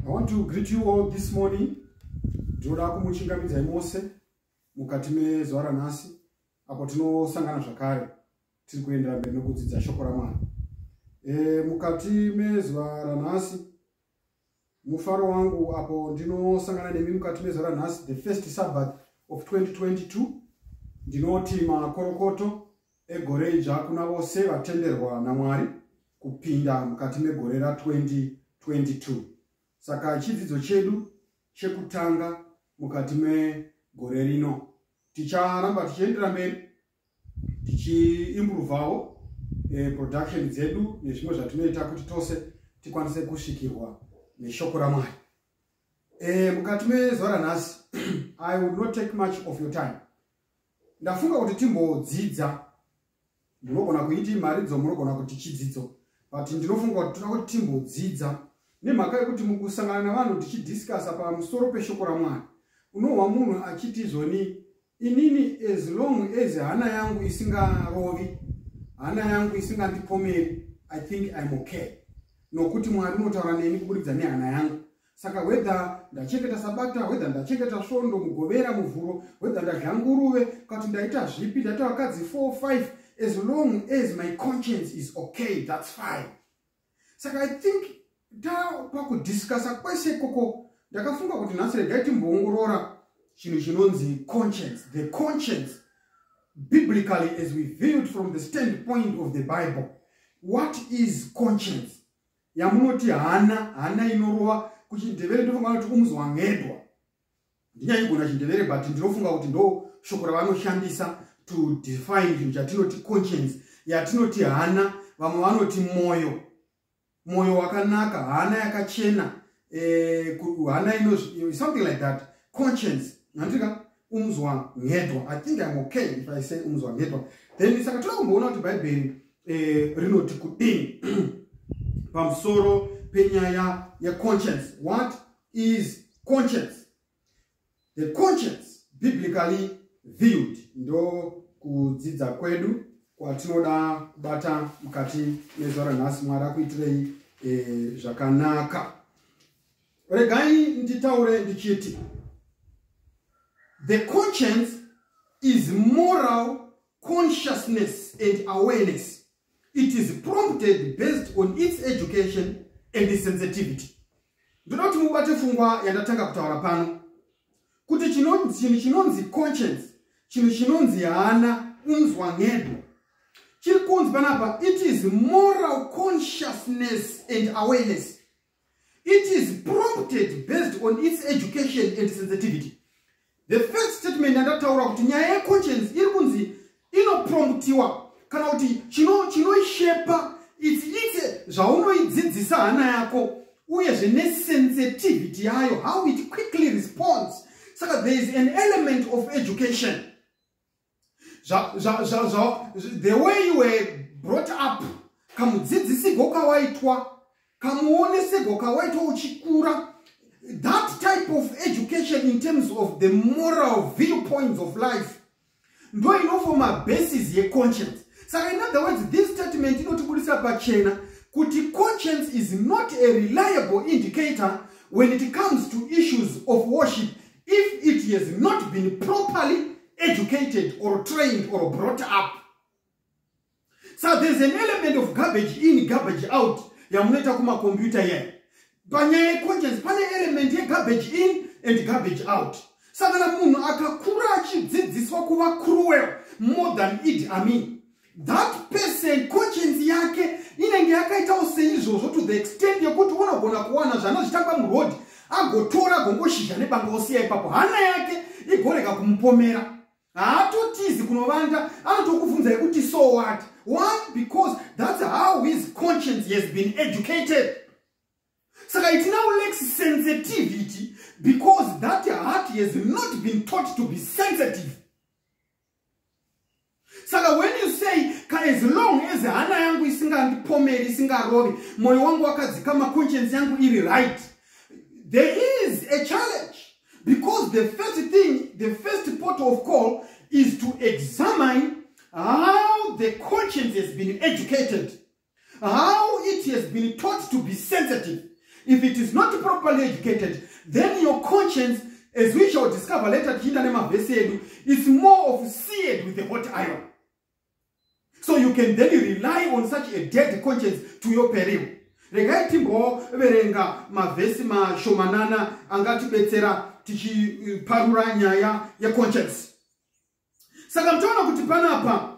I want to greet you all this morning. Ndinoda kumuchingamidza imose mukati mezuva ranhasi apo tinosangana zvakare tiri kuendera mberi nokudzidza shoko ramwari. E, mukati mezuva ranhasi mufaro wangu apo ndinosangana nemi mukati mezuva ranhasi the first sabbath of 2022 ndinoti makorokoto Egore idzva kuna vose vatenderwa naMwari kupinda mukati megore ra 2022. Saka chidzidzo chedu chekutanga mukati megore rino ticharamba tichiendera mberi tichiimburuvawo eh, production dzedu nezvimwe zvatinoita kuti tose tikwanise kusvikirwa neshoko ramwari eh, mukati mezuva ranhasi i will not take much of your time ndafunga kuti timbodzidza ndinogona kuiti mharidzo munogona kuti chidzidzo but ndinofunga kuti toda kuti timbodzidza nemhaka yekuti mukusangana navanhu tichidiscasa pamusoro peshoko ramwari unohwa munhu achiti zvoni inini as long as hana yangu isingarovi hana yangu isingandipomeri i think im okay nokuti mwari unotaura neni kuburidza nehana yangu saka whether ndachengeta sabata whether ndachengeta svondo mugovera muvhuro whether ndadya nguruve kati ndaita zvipi ndaita vakadzi 45 as long as my conscience is okay thats fine saka i think tapakudiscasa kwese ikoko ndakafunga kuti nhasi regai timboongorora chinhu chinonzi conscience the conscience biblically as we viewed from the standpoint of the bible what is conscience yamunoti hana hana inorova kuchindevere ndofunga kuti kumuzwa ngedwa ndinyaigona chindevere but ndinofunga kuti ndo shoko ravanoshandisa to define chinhu chatinoti conscience yatinoti hana vamwe vanoti mwoyo mwoyo wakanaka hana yakachena eh, hana ino something like that conscience nantika umzwa ngedwa i think im okay if i say umzwa ngedwa then saka toda kumboona kuti bhaibheri eh, rinoti kudini pamusoro penyaya yeconscience what is conscience the conscience biblically viewed ndo kudzidza kwedu kwatinoda kubata mukati mezuva ranhasi mwari akuitirei eh, zvakanaka regai nditaure ndichiti the conscience is moral consciousness and awareness it is prompted based on its education and its sensitivity ndoda kuti mubate fungwa yandatanga kutaura pano kuti chinhu chinonzi conscience chinhu chinonzi hana unzwa ngedu chiri kunzi panapa it is moral consciousness and awareness It is prompted based on its education and sensitivity. The first statement yandataura kuti nyaya yeconscience iri kunzi inopromptiwa kana kuti chinoishepa its ite zvaunoidzidzisa hana yako uyezve nesensitivity yayo how it quickly responds saka there is an element of education the way you were brought up kamudzidzisigo kawaitwa kamuonesego kawaitwa uchikura that type of education in terms of the moral viewpoints of life ndo inofoma basis yeconscience saka in other words this statement inotibudisa pachena kuti conscience is not a reliable indicator when it comes to issues of worship if it has not been properly educated or trained or brought up so there's an element of garbage in garbage out yamunoita kumakombiyuta iyayi panyaya yeconscience pane element yegarbage in and garbage out sakana munhu akakura achidzidziswa kuva cruel more than id amin that person conscience yake inenge yakaitawo seizvozvo to the extent yekuti unogona kuwana zvanozvitamba muroad agotora gongoshizha nebanga osiya ipapo hana yake igorega kumupomera haatotizi kunovanda anotokubvunza yekuti so what why because that's how his conscience has been educated saka it now lacks sensitivity because that heart has not been taught to be sensitive saka when you say ka as long as hana yangu isingandipomeri isingarovi mwoyo wangu wakadzikama conscience yangu iri right there is a challenge because the first thing the first port of call is to examine how the conscience has been educated How it has been taught to be sensitive. If it is not properly educated, then your conscience, as we shall discover later, is more of seared with a hot iron. So you can then rely on such a dead conscience to your peril. regai timboverenga mavhesi mashomanana angatibetsera tichiparura nyaya yeconscience saka mtoona kuti panapa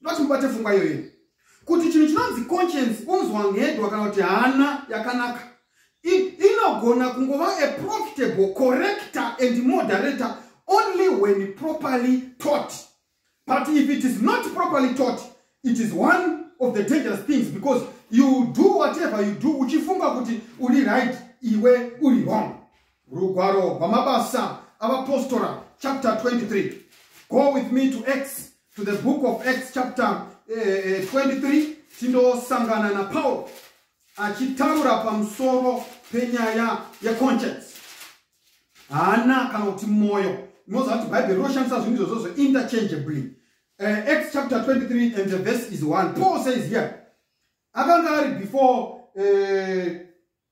ndoti mubate pfungwa iyoyo kuti chinhu chinonzi conscience unzwa ngedwa kana kuti hana yakanaka inogona kungova a profitable corrector and moderator only when properly taught but if it is not properly taught it is one of the dangerous things because you do whatever you do uchifunga kuti uri right iwe uri wrong rugwaro rwamabasa avapostora chapter 23 go with me to acts to the book of acts chapter eh, 23 eh, tindosangana napauro achitaura pamusoro penyaya yeconscience hana kana kuti mwoyo imoziva kuti bhaibheri rinoshandisa zvinhu izvozvozvo interchangeably uh, eh, acts chapter 23 and the verse is 1 paul says here akanga ari before uh,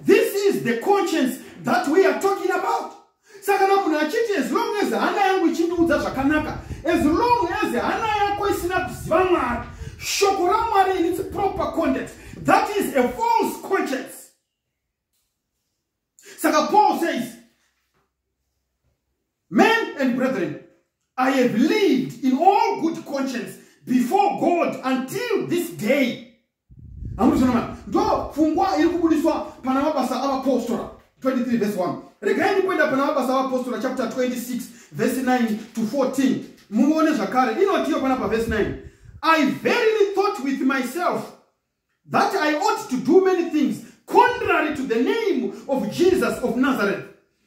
This is the conscience that we are talking about. Saka na munhu achiti as long as hana yangu ichindiudza zvakanaka, as long as hana yako isina kuziva Mwari, shoko raMwari in its proper context, that is a false conscience. Saka Paul says, Men and brethren, I have lived in all good conscience before God until this day. amuzvinoma ndo pfungwa iri kubudiswa pana mabasa avapostora 23 vese 1 regai ndikuenda pana mabasa avapostora chapter 26 vese 9 to 14 muone zvakare inotiyo pana pavese 9 i verily thought with myself that i ought to do many things contrary to the name of jesus of nazareth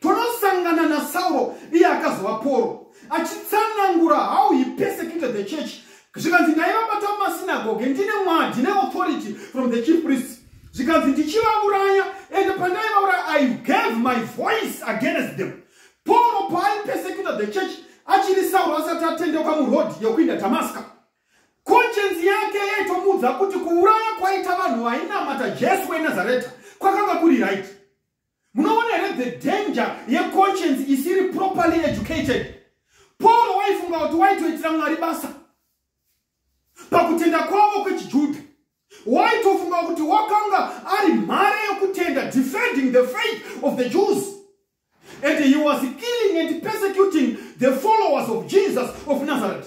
Tonosangana naSauro iye akazova Poro achitsanangura how he persecuted the church zvikanzi ndaivabata mumasinagoge ndine mwa ndine authority from the chief priests zvikanzi ndichivauraya ende pandaivauraya i gave my voice against them poro paaipesecuta the church achiri sauro asati atendeuka muroad yokuinda damaska koncenzi yake yaitomuudza kuti kuuraya kwaita vanhu vainamata jesu wenazareta kwakanga kuri right munoona here the danger yeconscience isiri properly educated pauro waifunga kuti waitoitira mwari basa pakutenda kwavo kwechijudha waitofunga kuti wakanga ari mhare yekutenda defending the faith of the jews and he was killing and persecuting the followers of jesus of nazareth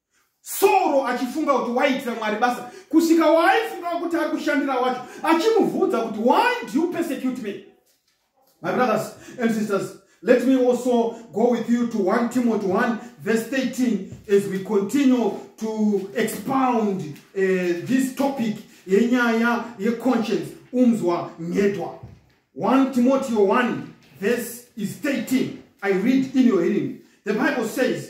Sauro achifunga kuti waiitira Mwari basa kusvika waaifunga kuti ari kushandira wacho achimubvunza kuti why do you persecute me my brothers and sisters let me also go with you to 1 timothy 1 verse 13 as we continue to expound uh, this topic yenyaya yeconscience umzwa nyedwa 1 timothy 1 verse is 13 i read in your hearing the bible says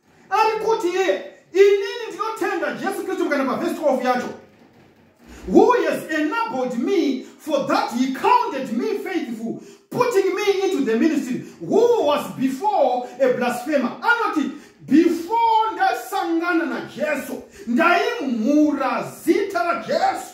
ari kuti iye inini ndinotenda jesu kristu mukana pavhesi 12 yacho who has enabled me for that he counted me faithful putting me into the ministry who was before a blasphemer anoti before ndasangana najesu ndaimhura zita rajesu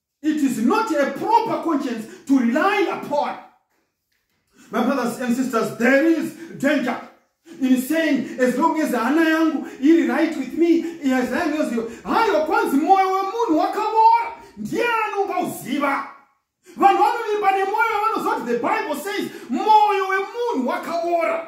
It is not a proper conscience to rely upon. My brothers and sisters, there is danger in saying, as long as hana yangu iri right with me, as long as you... Hayo kwanzi moyo wemunhu wakabora, ndiye anongauziva. Vanhu vanovimba nemoyo vanoziva kuti the Bible says, moyo wemunhu wakabora.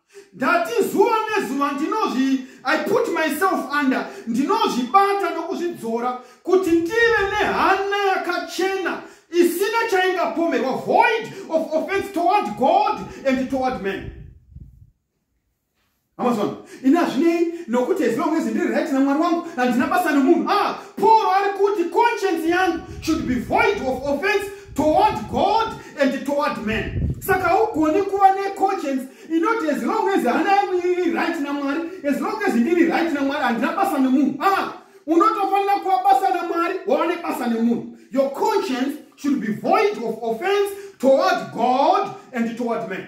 ndati zuva nezuva ndinozvi i put myself under ndinozvibata nokuzvidzora kuti ndive nehana yakachena isina chaingapomerwa void of offense toward god and toward man amazon ini hazvinei nokuti as long as ndiri right namwari wangu handina basa nemunhu a ah, paul ari kuti conscience yangu should be void of offense toward god and toward men saka haugoni kuva neconscience inoti as long as hana yangu iri right namwari as long as ndiri right namwari handina basa nemunhu aa unotofanira kuva basa namwari wava nebasa nemunhu your conscience should be void of offense toward god and toward man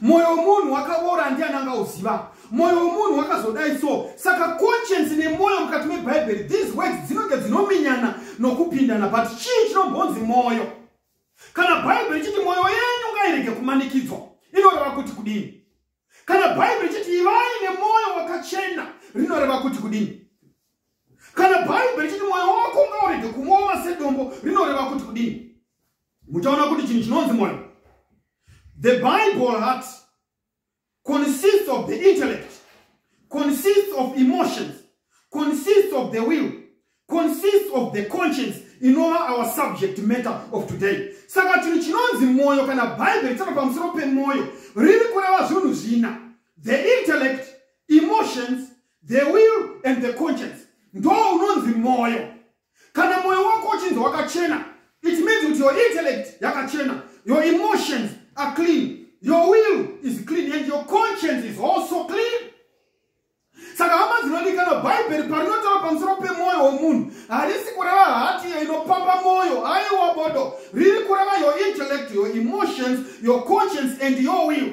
mwoyo wemunhu wakavora ndiani angauziva mwoyo wemunhu wakazodai so saka conscience nemwoyo mukati mebhaibheri these words dzinonge dzinominyana nokupindana but chii chinombonzi mwoyo kana bhaibheri ichiti mwoyo yenyu ngairege kumanikidzwa inoreva kuti kudini kana bhaibheri ichiti ivai nemwoyo wakachena rinoreva kuti kudini kana bhaibheri ichiti mwoyo wako ngaurege kumooma sedombo rinoreva kuti kudini muchaona kuti chinhu chinonzi moyo the bible heart consists of the intellect consists of emotions consists of the will consists of the conscience inova our subject matter of today saka chinhu chinonzi mwoyo kana bhaibheri chava pamusoro pemwoyo riri kureva zvinhu zvina the intellect emotions the will and the conscience ndo unonzi mwoyo kana moyo wako uchinzi wakachena it means kuti your intellect yakachena your emotions are clean your will is clean and your conscience is also clean saka hama dzinodikana bhaibheri parinotaura pamusoro pemwoyo womunhu harisi kureva hati iyo inopamba mwoyo aiwa bodo riri kureva your intellect your emotions your conscience and your will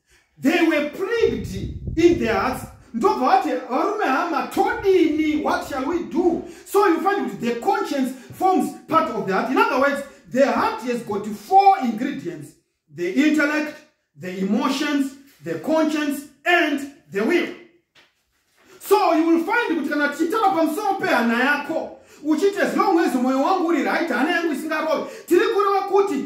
they were plagued in their hearts ndobva vati varume hama todini what shall we do so you find kuti the conscience forms part of the heart in other words the heart has got four ingredients the intellect the emotions the conscience and the will so you will find kuti kana tichitaura pamusoro pehana yako uchiti as long as mwoyo wangu uri right hana yangu isingarovi tiri kureva kuti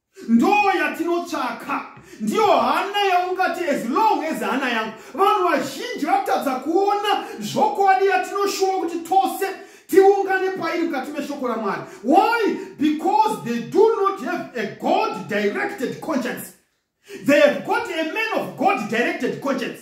ndoo yatinotsvaka ndiyo hana yaungati as long as hana yangu vanhu vazhinji vatadza kuona zvokwadi yatinoshuva kuti tose tiungane pairi mukati meshoko ramwari why because they do not have a god directed conscience they have got a man of god directed conscience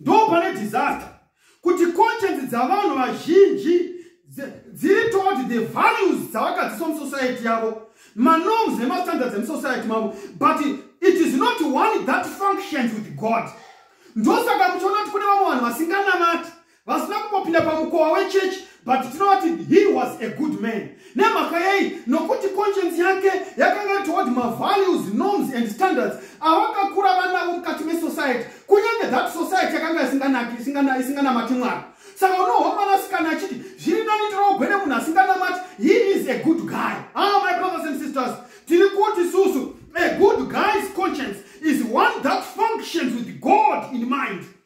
ndo pane disaster kuti conscience dzavanhu vazhinji dziri toward the values dzavakadziswa musociety yavo manorms nemastandards emusociety mavo but it is not one that functions with god ndosaka muchiona kuti kune vamwe vanhu vasinganamati vasina kumbopinda pamukowa wechechi but tinoti he was a good man nemhaka yei nokuti conscience yake yakanga toward mavalues norms and standards avakakura vanavo mukati mesociety kunyange that society yakanga isinganaki isinganamati mwari saka unohwa mwanasikana achiti zviri nani ndinougwe nemunhu asinganamati he is a good guy ah my brothers and sisters tiri kuti susu a good guy's conscience is one that functions with god in mind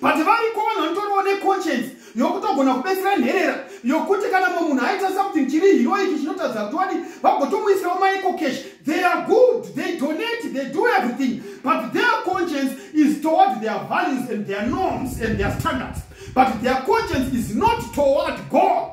but variko vanhu vanotoriwo neconscience yokutogona kubetsera nherera yokuti kana mumwe munhu aita something chiri hiroiki chinotadza kuti wadi vagotomuisirawo maiko cash they are good they donate they do everything but their conscience is toward their values and their norms and their standards but their conscience is not toward god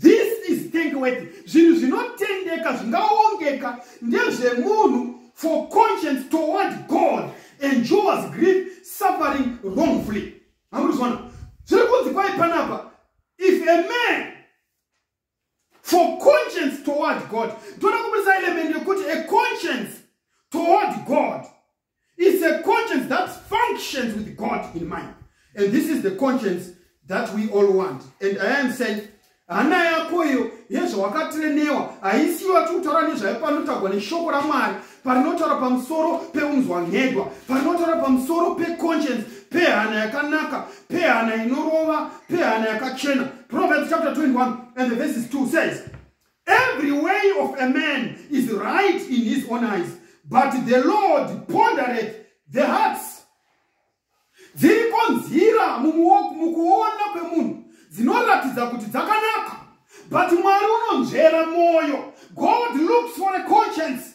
this is thankworthy zvinhu zvinotendeka zvingaongeka ndezvemunhu for conscience toward god enjours grief suffering wrongfully amuruzvona zviri kunzi kwai panapa if a man for conscience toward god toda kuburitsa element yekuti a conscience toward god It's a conscience that functions with God in mind. And this is the conscience that we all want. And I am saying, hana yako iyo yezvawakatirenewa haisiyo ati kutaura nezvaipanotagwa neshoko ramwari parinotaura pamusoro peunzwa nhedwa parinotaura pamusoro peconscience pehana yakanaka pehana inorova pehana yakachena proverbs chapter 21 and the verses 2 says Every way of a man is right in his own eyes, but the Lord pondereth the hearts. Dziriko nzira mukuona kwemunhu dzinoratidza kuti dzakanaka, but Mwari unonzvera mwoyo. God looks for a conscience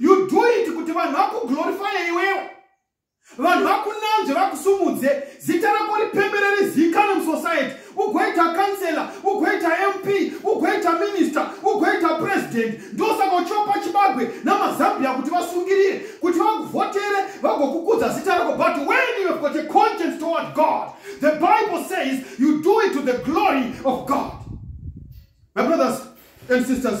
you do it kuti vanhu vakuglorifye iwewe vanhu vakunanzve vakusumudze zita rako ripembere rizikanwe musociety ugoita councellor ugoita mp ugoita minister ugoita president ndosaka uchiwapa chibagwe namazambia kuti vasungirire kuti vakuvhotere vagokukudza zita rako but when you have got a conscience toward god the bible says you do it to the glory of god my brothers and sisters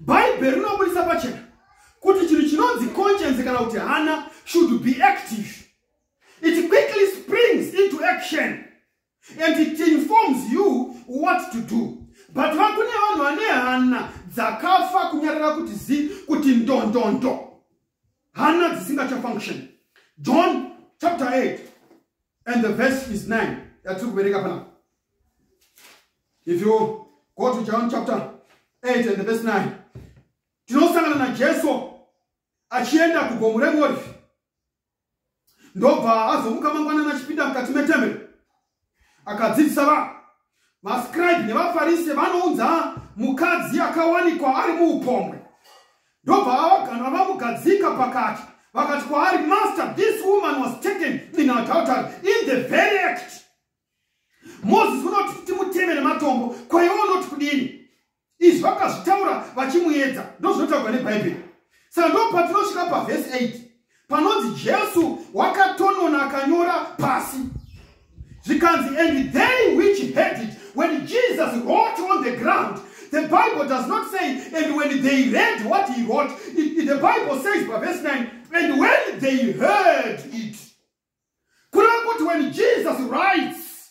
bhaibheri rinobudisa pachena kuti chinhu chinonzi conscience kana kuti hana should be active it quickly springs into action and it informs you what to do but vakune vanhu vane hana dzakafa kunyarara kuti zi kuti ndondondo hana dzisingachafunction john chapter 8 and the verse is 9 yatiri kuverenga panapa if you go to john chapter 8 and the verse 9 tinosangana najesu achienda kugomo reolifi ndobva azomuka mangwanani achipinda mukati metemberi akadzidzisa vanhu Vascribe nevafarise vanounza mukadzi akawanikwa ari muupombwe ndobva vavaganwa vamugadzika pakati vakati kwaari master this woman was taken in adultery in the very act moses unoti timutemere matombo kwaiwo unoti kudini izvi vakazvitaura vachimuedza ndozvinotaurwa nebhaibheri saka ndo patinosvika pavhesi 8 panonzi jesu wakatonona akanyora pasi zvikanzi and they which had it when jesus wrote on the ground the bible does not say and when they read what he wrote it, it, the bible says pavhesi 9 and when they heard it kureva kuti when jesus writes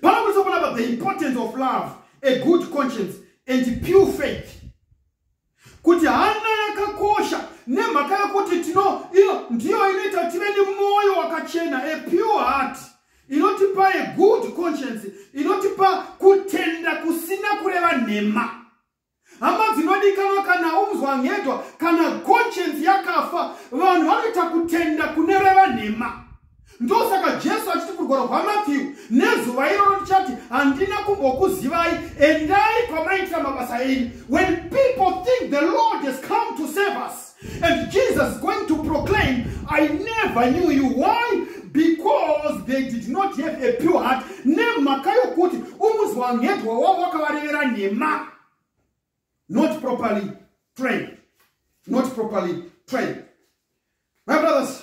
panokuisa kunapa the importance of love a good conscience and pure faith kuti hana yakakosha nemhaka yekuti tino iyo ndiyo inoita tive nemwoyo wakachena a pure heart inotipa a good conscience inotipa kutenda kusina kureva nhema hama dzinodikanwa kana unzwa ngedwa kana conscience yakafa vanhu vanoita kutenda kune reva nhema ndosaka jesu achiti kurwara kwamatthew nezuva iroro tichati handina kumbokuzivai endai kwamaitira mabasa enyu when people think the lord has come to save us And Jesus going to proclaim, I never knew you. Why? Because they did not have a pure heart. Nemhaka yokuti umuzwa ngedwa wavo wakavarevera nhema. Not properly trained. Not properly trained. My brothers,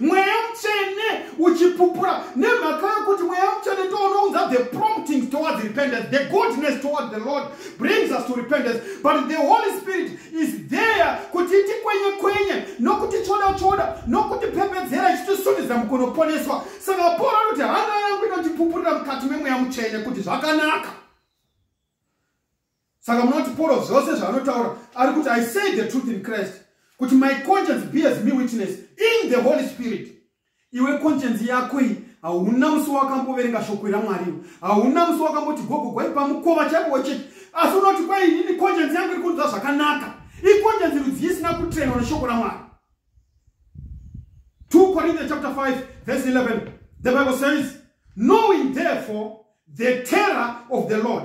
mweya mutsvene uchipupura nemhaka yokuti mweya mutsvene ndounounza the promptings towards repentance the goodness towards the lord brings us to repentance but the holy spirit is there kuti tikwenye kwenye nokuti tsvoda tsvoda nokuti pembedzera ichitisundidza mukunoponeswa saka pauro anoti hana yangu inotipupurira mukati memweya mutsvene kuti zvakanaka saka munoti poro zvose zvaanotaura ari kuti i say the truth in christ kuti my conscience bears me witness in the holy spirit iwe conscience yako iyi hauna musi wakamboverenga shoko ramwariwo hauna musi wakamboti gogo gwaipa mukova chaipo wechechi asi unoti kwai inini conscience yangu iri kunzwa zvakanaka iconsience rudzii isina kutrenwa neshoko ramwari 2 corinthians chapter 5 verse 11 the bible says knowing therefore the terror of the lord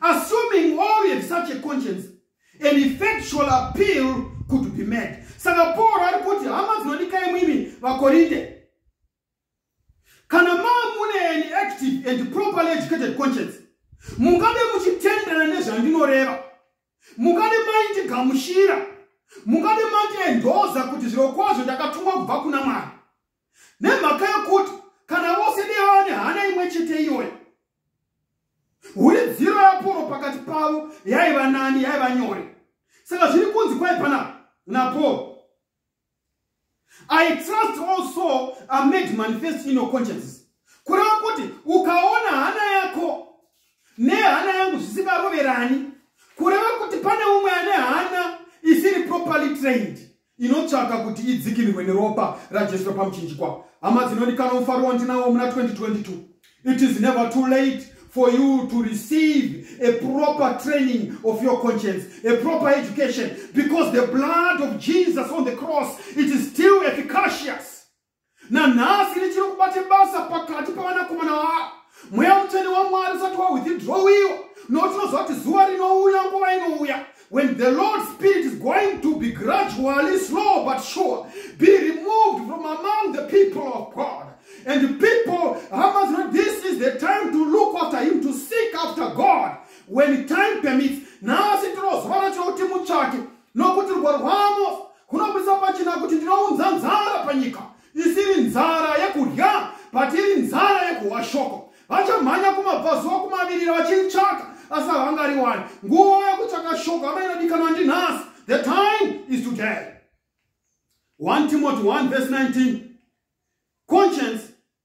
assuming all have such a conscience an effectual appeal could be made saka pauro ari kuti hama dzinodikai mwimi vakorinde kana mamune an active and properly educated conscience mungave muchitenderana nezvandinoreva mungave maindigamushira mungave mandiendoza kuti zviro kwazvo ndakatumwa kubva kuna mwari nemhaka yokuti kana vose nevava nehana imwe chete iyoyo huridziro yaporo pakati pavo yaiva nani yaiva nyore saka zviri kunzi kwai pana naporo i trust all soul are made manifest in your consciences kureva kuti ukaona hana yako nehana yangu zvisingaroverani kureva kuti pane umwe ane hana isiri properly trained inotsvaka kuti idzikinirwe neropa rajesu repamuchinjikwa hama dzinondikana mufaro wandinawo muna 2022 it is never too late for you to receive a proper training of your conscience a proper education because the blood of jesus on the cross it is still efficacious nanhasi richiri kubate basa pakati pavanakomana vaa mweya mutsvene wamwari usati wawithdrowiwa nokuti tinoziva kuti zuva rinouya nguva inouya when the lord spirit is going to be gradually slow but sure be removed from among the people of god and the people hama zino this is the time to look after him to seek after god when time permits nhasi tinoziva rachiro kuti mutsvake nokuti rudo rwavo kunobudisa pachena kuti ndinounza nzara panyika isiri nzara yekudya but iri nzara yekuhwa shoko vachamhanya kumabvazuva kumavirira vachiritsvaka asi havangariwani nguva yekutsvaka shoko hama inodikanwa ndinhasi the time is today 1 timothy 1 vese 19 conscience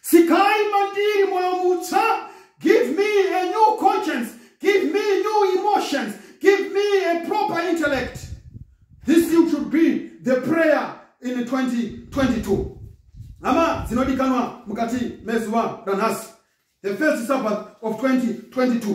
sikai mandiri mwoyo mutsva give me a new conscience give me new emotions give me a proper intellect this thing should be the prayer in 2022 hama dzinodikanwa mukati mezuva ranhasi the first sabbath of 2022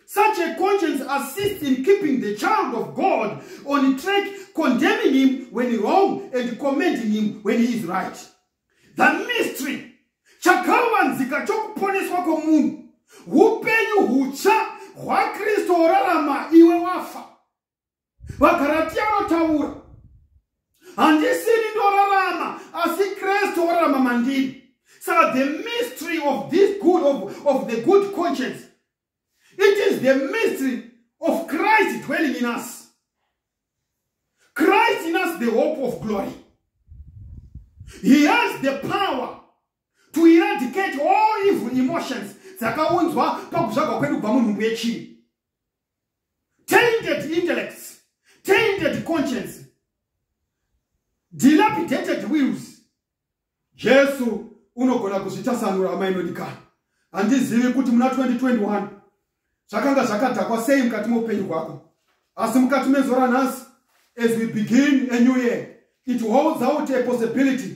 Such a conscience assists in keeping the child of God on track, condemning him when wrong and commending him when he is right. The mystery chakavanzika chokuponeswa kwomunhu upenyu hutsva hwakristu worarama iwe wafa vagaratia vanotaura handisini ndorarama asi kristu orarama mandiri saka the mystery of this good of, of the good conscience it is the mystery of christ dwelling in us christ in us the hope of glory he has the power to eradicate all evil emotions dzakaunzwa pakuzvagwa kwedu kubva munhumbu yechii tainted intellects tainted conscience dilapidated wills jesu unogona kuzvitasanura hama inodikana handizivi kuti muna 2021 zvakanga zvakadhakwa sei mukati meupenyu hwako asi mukati mezora nhasi as we begin a new year it holds out a possibility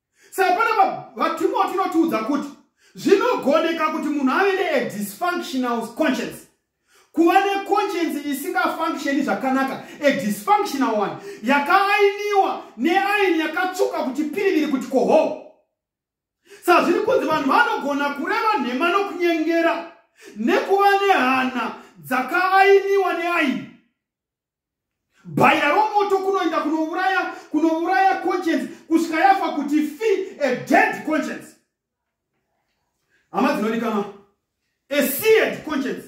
saka panapa vatimoti inotiudza kuti zvinogoneka kuti munhu ave neadysfunctional conscience kuva neconscience isingafunctioni zvakanaka adysfunctional one yakaainiwa neaini yakatsuka kuti piriviri kuti koho sa zviri kunzi vanhu vanogona kureva nhema nokunyengera nekuva nehana dzakaainiwa neaini bhaya romoto kunoenda kunouraya kunouraya conscience kusvika yafa kuti fi a dead conscience hama dzinodikama a seared conscience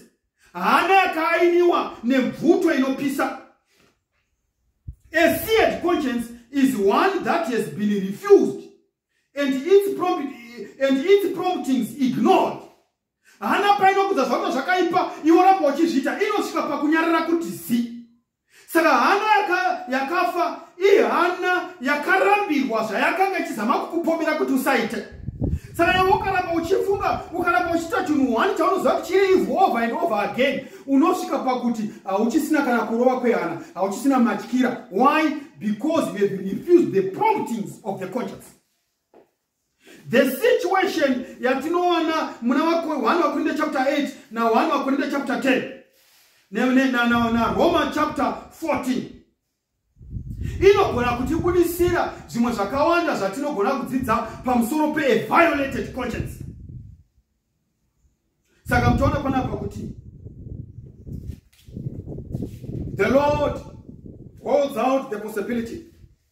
hana yakaainiwa nemvuto inopisa a seared conscience is one that has been refused and its, prompt, and its promptings ignored hana paino kudza zvauta zvakaipa iwo ramba uchizviita inosvika pakunyarara kuti zi saka hana yakafa yaka ihana yakarambirwa zvayakanga ichizama kukupomera kuti usaite saka iwe ukaramba uchifunga ukaramba uchiita chinhu one chaunoziva kuti chiri ivo over and over again unosvika pakuti hauchisina kana kurova kwehana hauchisina matyira why because you have refused the promptings of the conscience the situation yatinowana muna 1 vakorinde chapter 8 na 1 vakorinde chapter 10 na roma chapter 14 inogona kutibudisira zvimwe zvakawanda zvatinogona kudzidza pamusoro peviolated conscience saka mutoona panapa kuti the lord holds out the possibility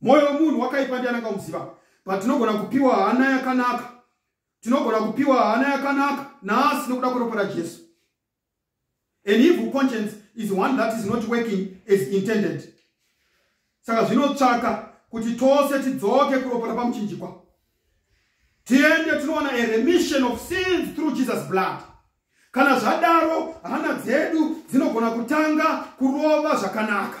mwoyo wemunhu wakaipa ndiani angamuziva but tinogona kupiwa hana yakanaka tinogona kupiwa hana yakanaka nhasi nokuda kweropa rajesu an evil conscience is one that is not working as intended saka zvinotsvaka kuti tose tidzoke kuropa rapamuchinjikwa tiende tinoona a remission of sins through jesus blood kana zvadaro hana dzedu dzinogona kutanga kurova zvakanaka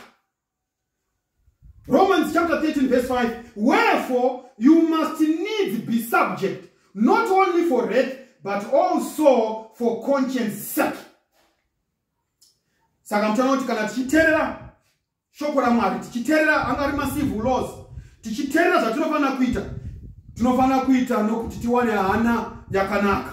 Romans chapter 13 verse 5 Wherefore you must needs be subject not only for wrath but also for conscience sake saka mutana kuti kana tichiterera shoko ramwari tichiterera anga ari macivil laws tichiterera zvatinofanira kuita tinofanira kuita nokuti tiwane hana yakanaka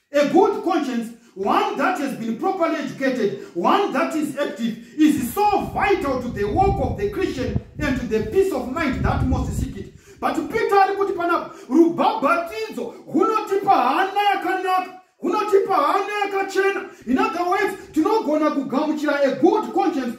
A good conscience, one that has been properly educated, one that is active, is so vital to the work of the Christian and to the peace of mind that most seek it. But Peter ari kuti panapa rubhabhatidzo hunotipa hana yakanaka hunotipa hana yakachena in other words tinogona kugamuchira a good conscience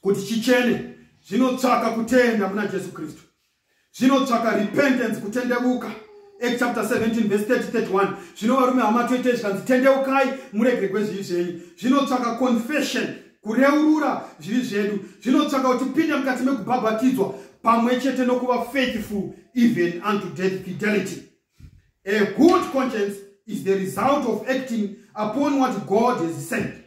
kuti chichene zvinotsvaka kutenda muna jesu kristu zvinotsvaka repentance kutendevuka act chapter 17 verse 331 zvino varume hama toitei zvikanzi tendeukai muregere kwezvivi zvenyu zvinotsvaka confession kureurura zvivi zvedu zvinotsvaka kuti pinde mukati mekubhabhatidzwa pamwe chete nokuva faithful even unto death fidelity a good conscience is the result of acting upon what god has sent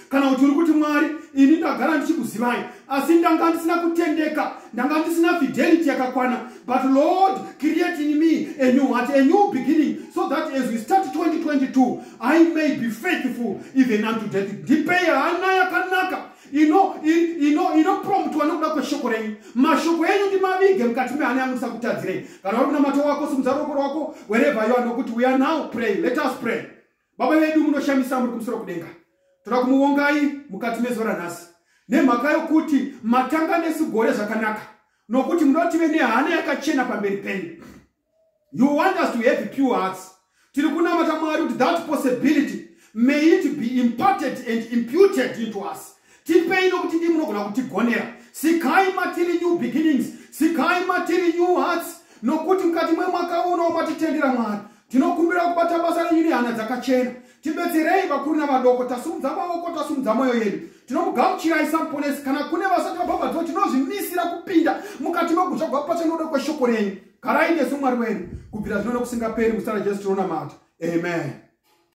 kana kuti uri kuti mwari ini ndagara ndichikuzivai asi ndanga ndisina kutendeka ndanga ndisina fidelity yakakwana but lord create in me a new heart a new beginning so that as we start 2022 i may be faithful even unto death ndipei hana yakanaka inopromtwa nokuda kweshoko renyu mashoko enyu ndimavige mukati mehana yangu ndisakutadzirei kana uri kunamata wako simudzarokoro wako wherever you are nokuti we are now praying let us pray Baba vedu munoshamisa muri kumusoro kudenga. Toda kumuvongai mukati mezuva ranhasi nemhaka yokuti matanga nesu gore zvakanaka nokuti munoda tive nehana yakachena pamberi penyu. You want us to have pure hearts. Tiri kunamata Mwari kuti that possibility may it be imparted and imputed into us. tipei nokuti dii munogona kutigonera sikai matiri new beginnings sikai matiri new hearts nokuti mukati mwemwaka uno matitendera mwari tinokumbira kubata basa renyu nehana dzakachena tibetserei vakuru navadoko tasumudza maoko tasumudza mwoyo yedu tinomugamuchirai samuponesi kana kune vasati vabhabhatiwa tinozvimisira kupinda mukati megutsva gwapatsva noda kweshoko renyu garai nesu mwari wenyu kubvira zvino nokusingaperi musara jesu tinonamata amen